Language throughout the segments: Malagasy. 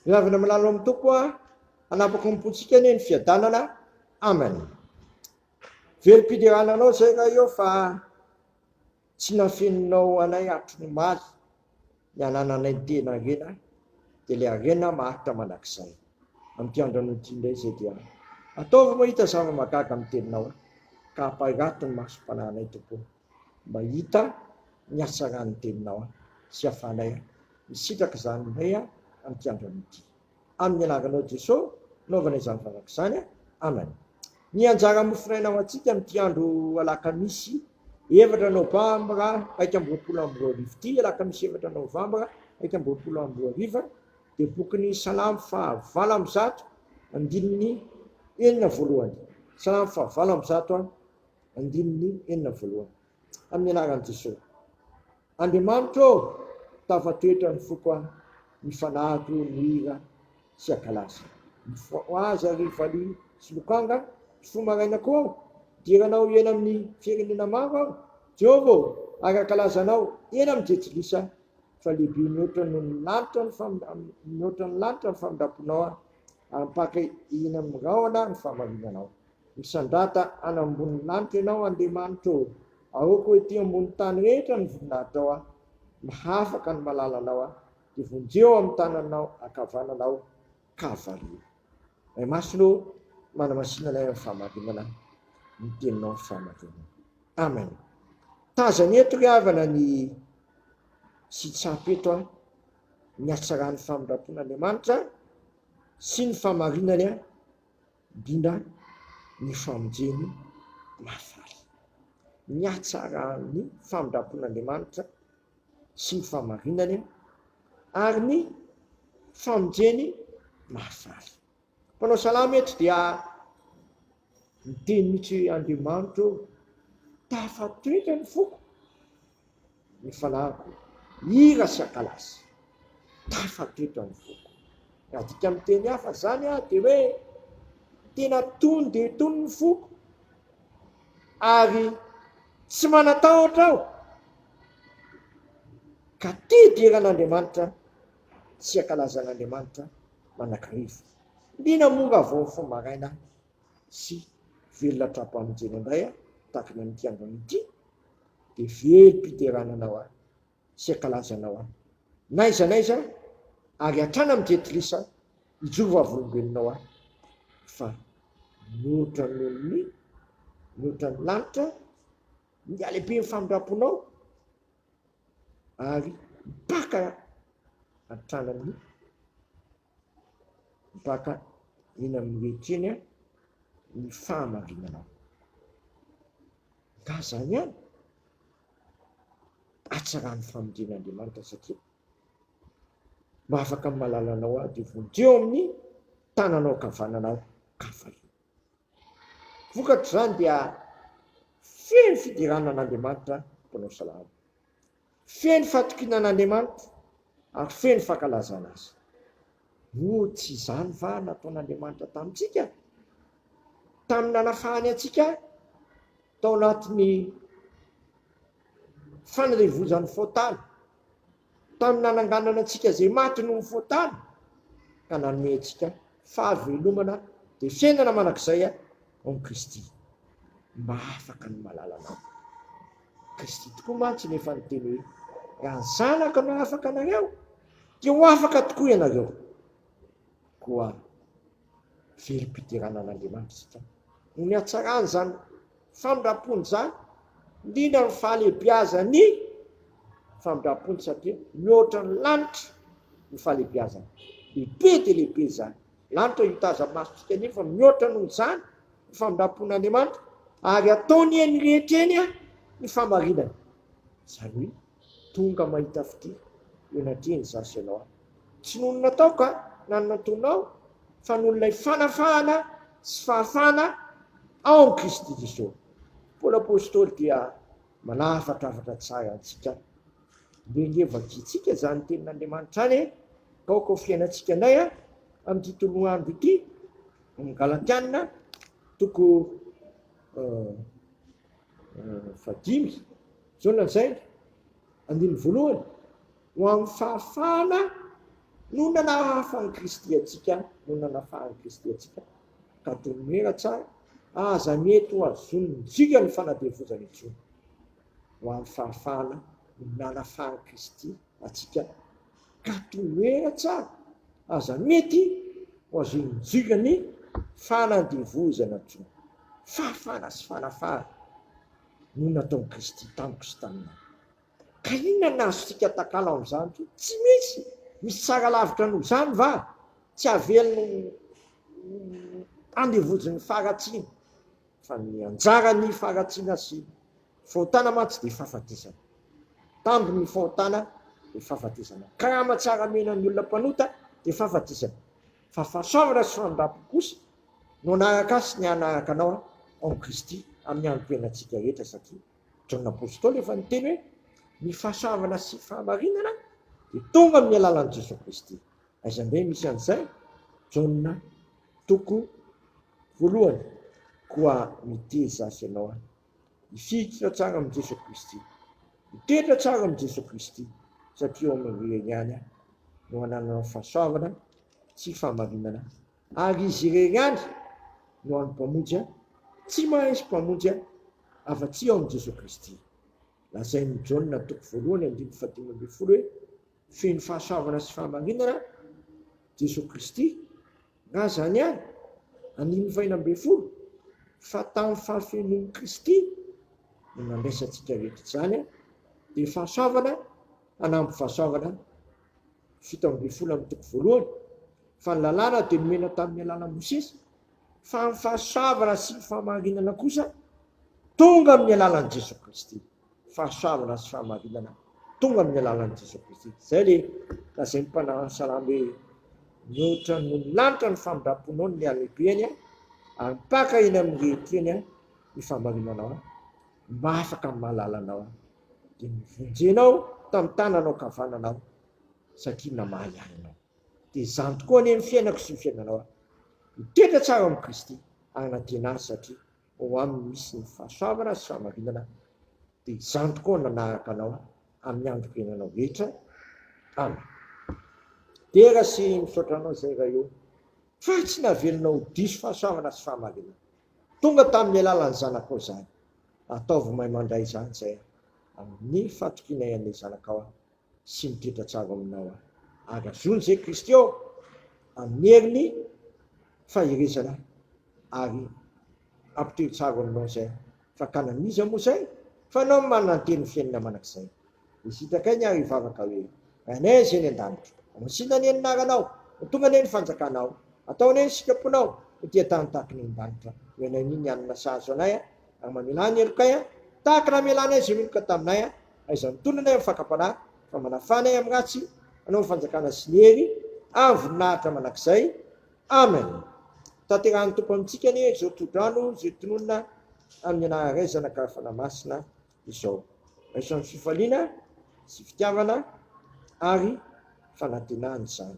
Miavona milalao amin'ny Tompo aho, hanapaka ny pontsika anie ny fiadanana. Amen. Velom-piderana anao zay raha eo fa tsy nafeninao anay hatry ny maly ny anananay tena harena dia le harena maharitra mandrakizay. Amin'ity andro an'ity indray zay dia ataovy mahita zava-magaga amin'ny teninao ka ampahirato ny masom-panahinay Tompo. mahita ny hatsaran'ny teninao sy hafanay aho misitraka izany indray aho amin'ity androany ity amin'ny anaranao Jeso naovana izany vavaka izany Amen ny anjara mofonaina ho antsika amin'ity andro alakamisy efatra novambra iraika amby roapolo amby roa arivo ity alakamisy efatra novambra iraika amby roapolo amby roa arivo dia bokin'ny salamo fahavalo amby zato andininy enina voalohany salamo fahavalo amby zato Andininy enina voalohany. Amin'ny anaran'i Jesoa. Andriamanitra ô! Tafatoetra ny foko an! Mifanado ny hira sy akalasa. Mifohaza ry valiha sy lokanga an! Mifoha maraina koa aho. Dera anao hiaina amin'ny firenena maro aho. Jehovah ô! Ara-kalaza anao eny amin'ny jejilisa fa lehibe mihoatra noho ny lanitra ny mihoatra ny lanitra ny famindramponao an! Ampaka eny amin'ny rahona ny fahamarinanao. Misandrata any ambony lanitra Ianao Andriamanitra ô! Aoka ho ety ambony tany rehetra ny voninahitrao aho, mahafaka ny malala Anao aho, dia vonjeo ao amin'ny tananao ankavanana aho ka vario. Ray Masina ô, manamasina anay amin'ny fahamarinana ny Teninao ny fahamarinana. Amen. Tazany eto ry havana ny tsy tsapy eto an, ny hatsaran'ny famindrampon'Andriamanitra sy ny fahamarinany an. Indrindra ny famonjeny mahafaly. Ny hatsaran'ny famindram-pon'Andriamanitra sy ny fahamarinany ary ny famonjeny mahafaly. Mpanao salamo eto dia miteny mihitsy hoe Andriamanitra ô, tafatoetra ny foko. ny fanahiko hira sy ankalasy. Tafa teto any foko. Raha adika amin'ny teny hafa izany aho dia hoe tena tony dia tony ny foko ary tsy manatahotra aho ka tia diran'Andriamanitra sy ankalazan'Andriamanitra manakariva. Liana moa raha vao mifoha maraina sy velona hatrampanontena indray aho tahaka ny amin'ity andron'ny ity dia velom-piterana anao aho sy ankalaza anao aho n'aiza n'aiza ary hatrany amin'ny jetilisa hijoro vavolombelonao aho fa mihoatra noho ny mihoatra ny lanitra ny halehiben'ny famindram-ponao ary mpaka hatrany amin'ny Mpaka eny amin'ny wc eny ny fahamarinanao. Ka izany ihany, hatsaraho ny famonjen'Andriamanitra satria mba afaka mahalala anao aho dia vonjeo eo amin'ny tananao ankavanana aho ka fahiny. Vokatr'izany dia feno fiderana an'Andriamanitra mpanao salamo. Feno fatokiana an'Andriamanitra ary feno fankalazana Azy. Moa tsy izany va nataon'Andriamanitra tamintsika, tamin'ny nanafahany antsika tao anatin'ny fanirevozan'ny fotana, tamin'ny nananganana antsika izay maty noho ny fotana, ka nanome antsika fahavelomana dia fiainana mandrakizay? Ao Kristy, mba afaka ny malala anao. Kristy tokoa mantsy no efa niteny hoe, Raha ny Zanako no afaka anareo, dia ho afaka tokoa ianareo. Koa velom-piderana an'Andriamanitra isika noho ny hatsarany izany famindram-pony izany, indrindra ny fahalehibiazan'ny famindram-pony, satria mihoatra ny lanitra ny fahalehibiazany, lehibe dia lehibe izany Lanitra hita azy amin'ny masontsika anefa mihoatra noho izany ny famindram-pon'Andriamanitra, ary ataony eny rehetra eny ny famarinany. Izany hoe, tonga mahita fitia eo anatrehany izaho sy ianao aho. Tsy noho ny nataoko na ny nataonao, fa noho ilay fanafahana sy fahafahana ao amin'i Kristy Jesoa. Paoly Apostoly dia manafatra hafatra tsara antsika. Dia ange vakiantsika izany tenin'Andriamanitra any e! Ka aoka ho fiainantsika indray amin'ity toloandro ity, amin'ny Galatiana toko fahadimy, izao lazainy, andininy voalohany, ho amin'ny fahafahana no nanahafan'i Kristy antsika, no nanafahan'i Kristy antsika, ka toy ny hoe raha tsara, aza mety ho azon'ny dikany fanadevozana intsony. ho amin'ny fahafahana ny miala faran'i Kristy antsika ka tohera tsara aza mety ho azon'ny jiolahy ny fanandevozana koa. Fahafahana sy fanafahana no nataon'i Kristy tamiko sy taminao. Ka inona no azontsika atakalo amin'izany koa? Tsy misy! Misy tsara lavitra noho izany va? Tsy havelony ho andevozin'ny faharatsiana. Fa ny anjaran'ny faharatsiana sy fahotana mantsy dia fahafatesana. Tambin'ny fahotana dia fahafatesana. Karama tsara amenan'ny olona mpanota dia fahafatesana. Fa fahasoavana sy famindrampo kosa no hanaraka ahy sy ny hanaraka anao ao amin'i Kristy amin'ny hanompoana antsika rehetra satria Jaona Apostoly efa niteny hoe ny fahasoavana sy fahamarinana dia tonga amin'ny alalan'i Jesoa Kristy. Aizan-dray misy an'izay? Jaona toko. Voalohany, koa mitery zaza ianao an! Hifikitra tsara amin'i Jesoa Kristy, hitoetra tsara amin'i Jesoa Kristy, satria ao amin'i Ry ihany an! no hanananao fahasoavana sy fahamarinana, ary Izy irery ihany no hany Mpamonjy an! Tsy mahaisy Mpamonjy an! afa-tsy ao amin'i Jesoa Kristy. Lazain'i Jaona toko voalohany andininy fahadimy ambin'ny folo hoe, Feno fahasoavana sy fahamarinana Jesoa Kristy, Na izany àry, animo fahenina ambin'ny folo, fa tamin'ny fahafenoan'i Kristy no nandraisantsika rehetra izany, dia fahasoavana hanamby fahasoavana, fito ambin'ny folo amin'ny toko voalohany, fa ny lalàna dia nomena tamin'ny alalan'i Mosesy, fa ny fahasoavana sy ny fahamarinana kosa tonga amin'ny alalan'i Jesoa Kristy. fahasoavana sy fahamarinana tonga amin'ny alalan'i Jesoa Kristy. Izay le lazain'ny mpanao ny salamo hoe mihoatra noho ny lanitra ny famindram-ponao ny halehibeny a, ary mipaka eny amin'ny rehetreny a ny fahamarinanao a, mba afaka amin'ny mahalala anao a, dia nivonjenao tamin'ny tananao kavanana aho satria namaly ahy ianao. Dia izany tokoa anie ny fiainako sy ny fiainanao a. Mitoetra tsara amin'i Kristy ary nandiana azy satria Ho amin'ny misy ny fahasoavana sy fahamarinana, dia izany tokoa no nanaraka anao amin'ny androm-piainanao rehetra. Amen. Dera sy misaotra anao izay Ray ô, fa tsy navelonao ho diso fahasoavana sy fahamarinana. Tonga tamin'ny alalan'ny Zanakao izany. Ataovy mahay mandray izany izay amin'ny fatokianay an'ilay Zanakao sy ny toetra tsara ao aminao aho. Ary azony izay Kristy ao amin'ny herin'ny faherezana ary hampitohy tsara ao aminao izay. Fakana an'iza moa izay fa anao no manana ny tenin'ny fiainana mandrakizay. Dia sitraka ainy ary hivavaka hoe, Ranay izay any an-danitra, hamasinina anie ny anaranao, ho tonga anie ny fanjakanao, atao anie ny sitraponao ho tia-tany tahaka ny any an-danitra, hoy anay ny hanina sahazo anay, Raha mamela ahy ny helokay, tahaka ny namelana ahy izay meloka taminay, aiza ny tolona anay amin'ny fakam-panahy, fa manafà anay amin'ny ratsy, Anao ny fanjakana sy ny hery ary ny voninahitra mandrakizay. Amen. Tanterahin'ny Tompo amintsika anie izao tsodrano izay tononina amin'ny anaran'ny Ray, Zanaka ary Fanahy Masina izao. Raiso amin'ny fifaliana sy fitiavana ary fanantenana izany.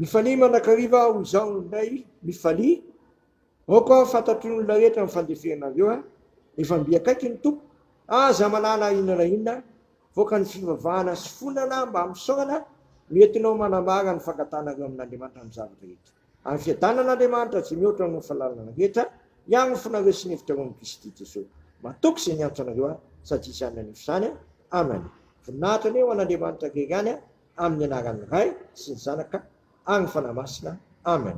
Mifalia mandrakariva aho izao indray, mifalia. Aoka aho fantatry ny olona rehetra amin'ny fandefenareo a. Efa mby akaiky ny tompo. Aza manala inona na inona. Voaka ny fivavahana sy fonana mba misaorana no entinao manambara ny fankatanareo amin'Andriamanitra amin'ny zavatra rehetra. Ary fiadanan' Andriamanitra izay mihoatra noho ny fahalalana rehetra hiangofonareo sy ny hevitra roan'i Kristy Jesoa. Matoky izay niantso anareo aho, sady izany nanefy izany. Amen. Voninahitra anie ho an' Andriamanitra irery ihany, amin' ny anaran' ny Ray sy ny Zanaka ary ny Fanahy Masina. Amen.